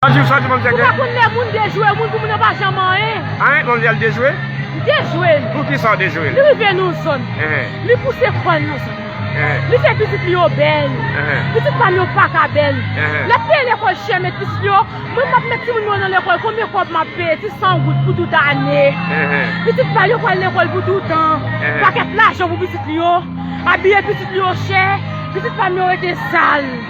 Bonjou sa di manzè gen. Ou pa konn lè moun dejwe ou moun pou moun nan pa janm anyen. Anh manzè al dejwe? Li dejwe l. Pou kisa ou dejwe l? Li rive nan zòn. Li pouse kò l nan zòn nan. Li fè pitit li yo bèl. Pitit pa m yo pa ka bèl. L ap peye lekòl chè met pitit li yo. Mwen m ap met timoun mwen yo nan lekòl konbyen kòb m ap peye ti san goud pou tout ane. Pitit pa l yo pral lekòl pou toutan. Pakèt lajan pou pitit li yo. Abiye pitit li yo chè. Pitit pa m yo rete sal.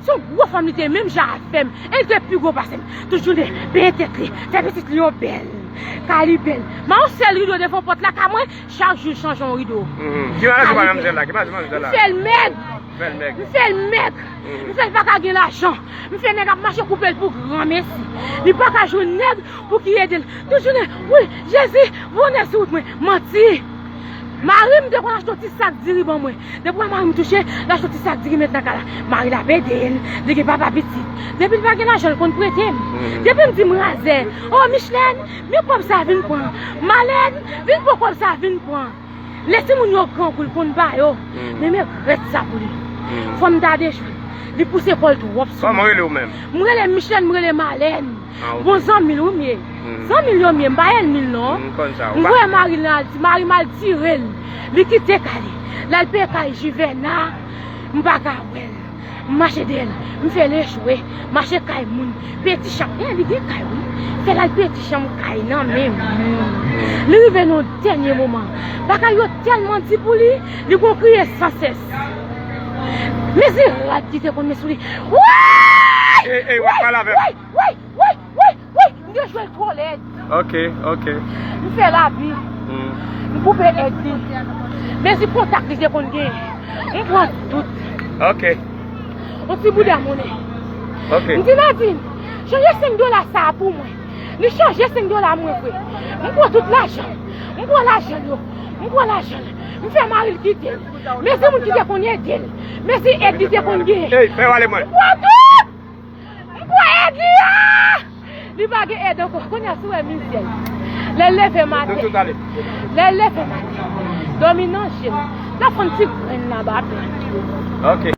Se yon gwo fanm li te menm jan avèm e li te pi gwo pasem tout jounen benyen tèt li fè pitit li yo bèl kay li bèl man yon sèl rido devan pòt la kay mwen chak jou chanje yon rido kay li bèl m fèl mèg m fèl mèg m fèl paka gen lajan m fè nèg ap mache koupel pou granmesi li paka jwenn nèg pou ki edel tout jounen wi jezi vonnen sou wout mwen manti marim te konn achte yon ti sak diri ban mwen Depi wè marim touche, lap soti sak diri met nan ka la. Mari la ap edel, li gen papa pitit. Depil pa gen lajan li konn pretem. Depim dim razè, oh Michlene, men kob sa vin pran. Malene, vin pran kob sa vin pran. Lè timoun yo grangou li konn ba yo. Men m regrèt sa pou li. Fòm ta dechwem. Li pouse kòl twòp sou mwen. M rele Michlene, m rele Malene. Bon zanmil wi m ye Zanmil yo m ye m pa ènmil non M voye maril nan Alti marim al tirel Li kite kay li lal peye kay jivèna M paka wèl M mache dèyèl m fèl echwe Mache kay moun peye ti chanm Li gen kay wi Fèl al peye ti chanm kay nan men moun Li rive nan yon dènye moman Bagay yo tèlman di pou li Li gon kriye san sès. Men se rad ki te konn met sou li. Woyy! Ey ey wap pale avem. Woyy woyy woyy woyy woyy m gen jwèl twò lèd. Ok ok. M fè lavi. M koupe èd li. Mezi kontak li te konn gen. M pran tout. Ok. On ti bouda monnen. Ok. M di Nadin, chanje 5 dola sa a pou mwen. Li chanje 5 dola mwen vwe. M pran tout lajan. M pran lajan l yo. M pran lajan l. M fè mari l kite l. Mesi moun ki te konn ede l. Mesi ed li te konn gen. M kwè tout! M kwè ed li a! Li pa gen ed anko. Kounye a si w wè mizè l. Lè l leve maten. Lè l leve maten. Domi nan je l. L ap fon ti grenn nan ba pè.